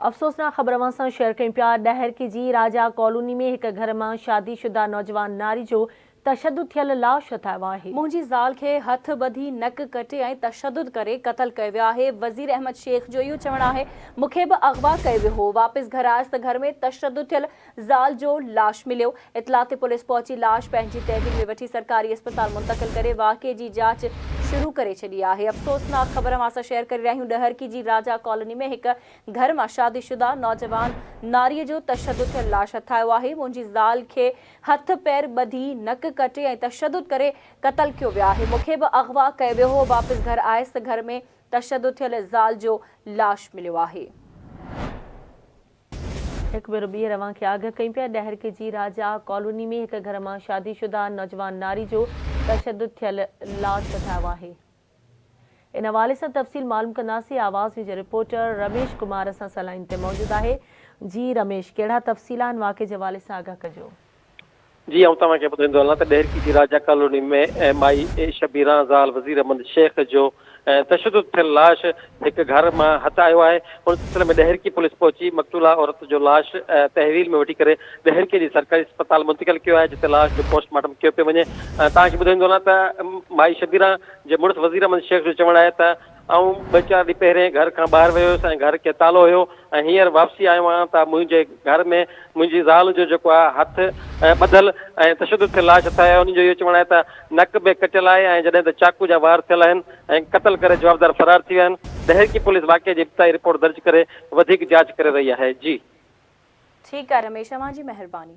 افسوسناڪ خبر اوهان سان شيئر ڪيون پيا ڏهرڪي جي راجا ڪالوني ۾ هڪ گهر مان شادي شده نوجوان ناري جو تشدد ٿيل لاش هٿ آيو آهي. منهنجي زال کي هٿ ٻڌي نڪ ڪٽي ۽ تشدد ڪري قتل ڪيو ويو آهي وزير احمد شيخ جو اهو چوڻ آهي مون کي به اغوا ڪيو ويو هو واپس گهر آيس ته گهر ۾ تشدد ٿيل زال جو لاش مليو، اطلاع تي پوليس پهچي لاش پنهنجي تحويل ۾ وٺي سرڪاري اسپتال منتقل ڪري واقعي جي جاچ شروع ڪري ڇڏي آهي افسوسناڪ خبر اوهان سان شيئر ڪري رهيا آهيون ڏهرڪي جي راجا ڪالوني ۾ هڪ گهر مان شادي شده نوجوان ناري جو تشدد ٿيل لاش هٿ آيو آهي منهنجي زال کي هٿ پير ٻڌي نڪ ڪٽي ۽ تشدد ڪري قتل ڪيو ويو آهي مونکي به اغوا ڪيو ويو هو واپس گهر آيس ته گهر ۾ تشدد ٿيل زال جو لاش مليو آهي. هڪ ڀيرو ٻيهر اوهان کي آگهه ڪيون پيا ڏهر ڪي جي راجا ڪالوني ۾ هڪ گهر مان شادي شده نوجوان ناري جو تشدد ٿيل لاش ڪڍرايو آهي ان حوالي سان تفصيل معلوم ڪنداسين آواز نيوز جي رپورٽر رميش ڪمار اسان سان لائين تي موجود آهي جي رميش ڪهڙا تفصيل آهن واقعي جي حوالي سان آگهه ڪجو. جي آئون توهان کي ٻڌائيندو هلان ته ڏهرڪي جي راجا ڪالوني ۾ مائي شبيران زال وزير احمد شيخ جو تشدد ٿيل لاش هڪ گهر مان هٿ آيو آهي ان سلسلي ۾ ڏهرڪي پوليس پهچي مقتولا عورت جو لاش تحويل ۾ وٺي ڪري ڏهرڪي جي سرڪاري اسپتال منتقل ڪيو آهي جتي لاش جو پوسٽ مارٽم ڪيو پيو وڃي توهان کي ٻڌائيندو هلان ته مائي شبيران جي مڙس وزير احمد شيخ جو چوڻ آهي ته آئون ٻه چار ڏينهن پهرين گهر کان ٻاهر ويو هيس ۽ گهر کي تالو هيو ۽ هينئر واپسي آيو آهيان ته منهنجي گهر ۾ منهنجي زال جو جيڪو آهي هٿ ٻڌل ۽ تشدد ٿيل لاش اٿائي آهي انهن جو اهو چوڻ آهي ته نڪ به ڪٽيل آهي ۽ جڏهن ته چاقو جا وار ٿيل آهن ۽ قتل ڪري جوابدار فرار ٿي ويا آهن ڏهرڪي پوليس واقعي جي ابتدائي رپورٽ درج ڪري وڌيڪ جاچ ڪري رهي آهي جي. ٺيڪ آ رميش اوهان جي مهرباني.